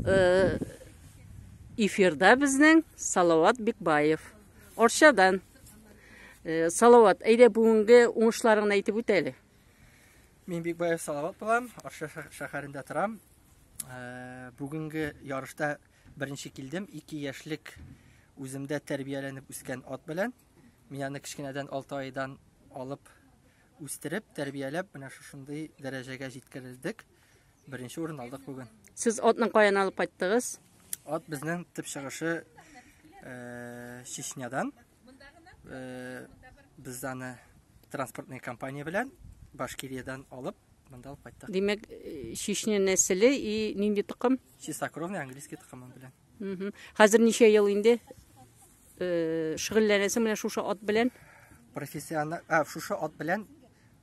Э, эфирда безнең Салават Бекбаев. Орчадан. Э, Салават, әйдә бүгенге уңышларыңны әйтеп үт әле. Мин Бекбаев Салават булам, Орча шәһәрендә торам. Э, бүгенге ярышта беренче килдем, 2 яшьлек үземдә тәрбияләнеп үскән ат белән. Мин аны кечкенәдән 6 айдан алып үстереп, тәрбияләп, менә шушындый дәрәҗәгә җиткерелдек. Беренче урын алдык бүген. Сез атны каян алып кайттыгыз? Ат безнең төп чыгышы э, Чечнядан. Э, без аны транспортный компания белән Башкириядән алып монда алып кайттык. Димәк, э, Чечня нәселе и нинди тукым? Чистокровный английский тукымы белән. Хәзер ничә ел инде? шөгыльләнәсең менә шушы ат белән? Профессиональ, а, шушы ат белән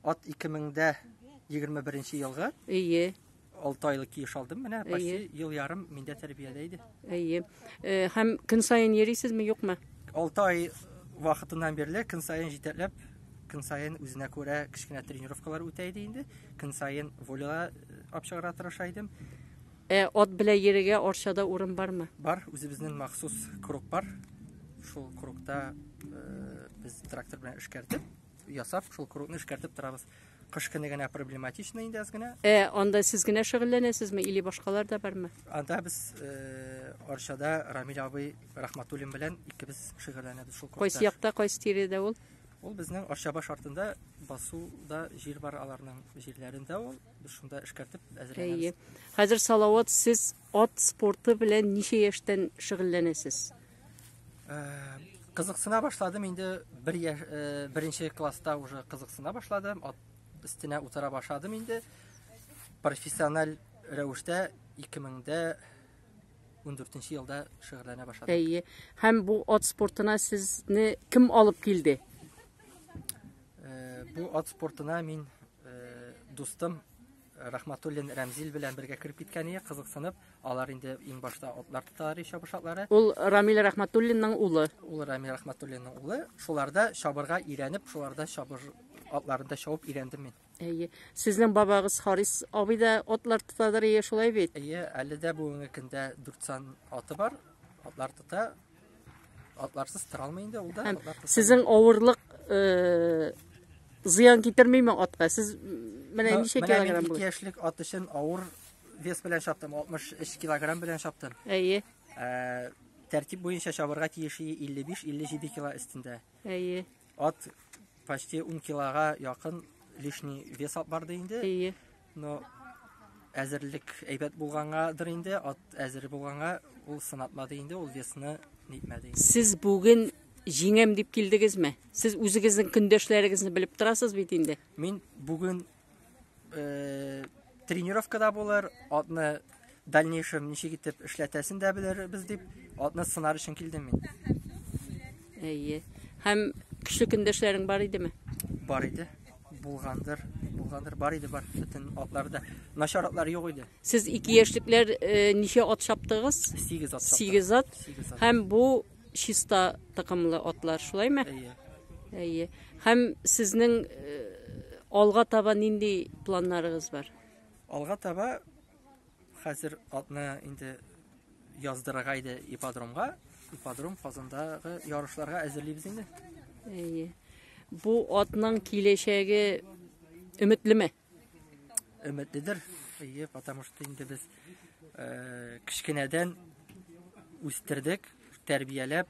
ат 2021 елгы. Ие. 6 айлык киеш алдым менә, почти ел ярым миндә тәрбиядә иде. Ие. Э, һәм көн саен йөрисезме, юкмы? 6 ай вакытыннан бирле көн саен җитәкләп, көн саен үзенә күрә кечкенә тренировкалар үтә иде инде. Көн саен волейга э, апчыгыра тырыша идем. Ә ат белән йөрергә Арчада урын бармы? Бар, үзебезнең махсус круг бар. Шул кругта э, без трактор белән эшкәртеп, ясап, шул кругны эшкәртеп торабыз. Кыш көне генә проблематично инде аз генә. Ә анда сез генә шөгыльләнәсезме или башкалар да бармы? Анда без э, Арчада Рамил абый Рахматуллин белән икебез шөгыльләнәбез шул кругта. Кайсы якта, кайсы тирәдә ул? Ул безнең Арчабаш артында басуда җир бар аларның җирләрендә ул. Без шунда эшкәртеп әзерләнәбез. Әйе. Хәзер Салават, сез ат спорты белән ничә яшьтән шөгыльләнәсез? Кызыксына башладым инде бер яшь, беренче класста уже кызыксына башладым. Ат өстенә утыра башладым инде. Профессиональ рәвештә 2000-дә 14 елда шөгыльләнә башладым. Әйе. Һәм бу ат спортына сезне кем алып килде? Бу ат спортына мин Э, дустым Рахматуллин Рәмзил белән бергә кереп киткән ие, кызыксынып, алар инде иң башта атлар тоталар ие чабышатлары. Ул Рамил Рахматуллинның улы. Ул Рамил Рахматуллинның улы. Шуларда чабырга ирәнеп, шуларда чабыр атларында чабып ирәндем мин. Әйе. Сезнең бабагыз Харис абый да атлар тотадыр ие, шулай бит? Әйе, әле дә бүгенге көндә 4 сан аты бар. Атлар тота, Атларсыз тора алмый инде ул да. Сезнең авырлык э, зыян китермиме атка? Сез менә ничә килограмм булды? 2 яшьлек ат өчен авыр вес белән чаптым, 63 килограмм белән чаптым. Әйе. Э, тәртип буенча чабырга тиеши 55-57 кило өстендә. Әйе. Ат почти 10 килога якын лишний вес алып барды инде. Әйе. Но әзерлек әйбәт булгангадыр инде, ат әзер булганга ул сынатмады инде, ул весны нитмәде инде. Сез бүген җиңәм дип килдегезме? Сез үзегезнең көндәшләрегезне белеп торасыз бит инде. Мин бүген э, тренировкада булыр, атны дальнейшем ничек итеп эшләтәсен дә белербез дип, атны сынар өчен килдем мин. Әйе. Һәм көчле көндәшләрең бар идеме? Бар иде. Булгандыр, булгандыр, бар иде, бар. Бөтен атларда начар атлар юк иде. Сез ике яшьлекләр э, ничә ат чаптыгыз? 8 ат. чаптык. Сигез ат. Сигез ат. Һәм бу чиста токымлы атлар, шулаймы? Әйе. Әйе. Һәм сезнең э, алга таба нинди планнарыгыз бар? Алга таба хәзер атны инде яздырырга иде ипподромга. Ипподром Казандагы ярышларга әзерлибез инде. Әйе. Бу атның киләчәге өметлеме? Өметледер. Әйе, потому что инде без э, кечкенәдән үстердек, тәрбияләп,